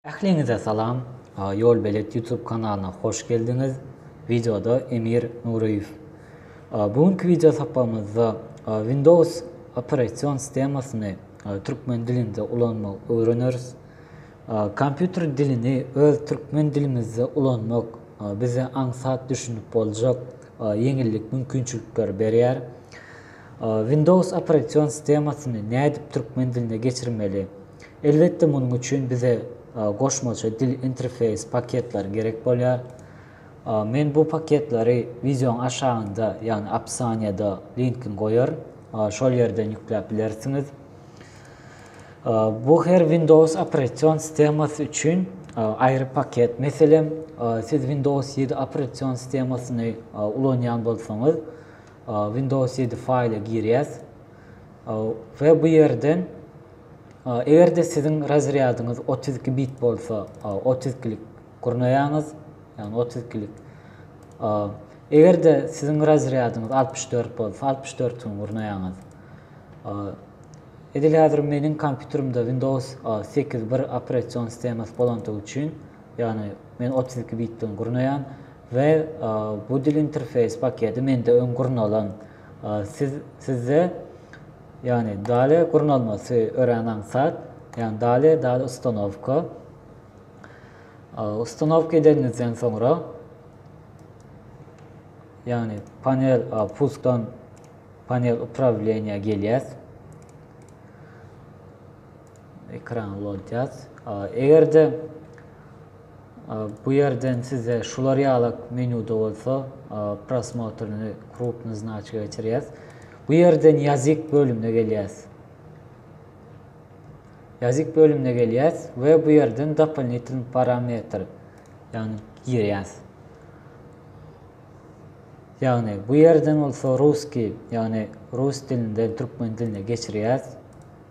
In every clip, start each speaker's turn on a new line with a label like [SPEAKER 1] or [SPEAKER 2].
[SPEAKER 1] Ähliňize salam! Ýolbelet YouTube kanalyna hoş geldiňiz! Wideoda Emir Nuryýew. Bu günki wideo sapagymyzda Windows operasion sistemasyny türkmen dilinde ulanmagy öwreneris. Kompýuter dilini öz türkmen dilimizde ulanmak bize aňsat düşünip boljak ýeňillik mümkinçilikleri berýär. Windows operasion sistemasyny nädip türkmen diline geçirmeli? Elbetde munuň üçin bize goşmaça dil interfeýs paketleri gerek bolýar. Men bu paketleri wideoň aşagynda ýagny opisaniýada linkin goýaryn. Şol ýerden ýükläp bilersiňiz. Bu her Windows operasion sistemasy üçin aýry paket. Meselem, siz Windows 7 operasion sistemasyny ulanýan bolsaňyz, Windows ýedi faýla girýäs. We bu ýerden eger-de siziň razrýadyňyz otuz iki bit bolsa, otuz ikilik gurnaýaňyz, ýagny otuz ikilik. Eger-de siziň razrýadyňyz altmyş dört bolsa, altmyş dörtüni gurnaýaňyz. Edil häzir meniň kompýuterimde Windows sekiz bir operasion sistemasy bolandygy üçin, ýagny men otuz iki bitden gurnaýan. We bu dil interfeýs paketi mende öň gurnalan. Siz sizde ýagny dale gurnalmasy örän aňsat. Ýagny dale dale ustanowka. Ustanowka edenizden soňra ýagny panel puskdan panel uprawleniýa gelýär. Ekran ulaltýas. Eger-de bu ýerden size şular ýalak menýuda bolsa, prosmotryny krupny znaçka geçirýäs. Bu ýerden ýazyk bölümine gelýäs. Ýazyk bölümine gelýäs we bu ýerden dopolinitel parametr ýagny girýäs. Ýagny bu ýerden bolsa ruski ýagny rus dilinden türkmen diline geçirýäs.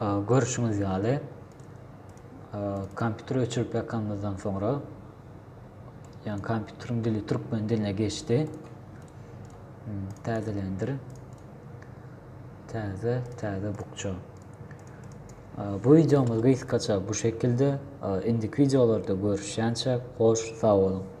[SPEAKER 1] Görşüňiz ýaly, kompýuteri öçürip ýakanymyzdan soňra, ýagny kompýuteriň dili türkmen diline geçdi. Täzelendir. Täze, täze bukja. Bu wideomyz gysgaça bu şekilde. Indiki wideolarda görüşýänçä, hoş, sag boluň!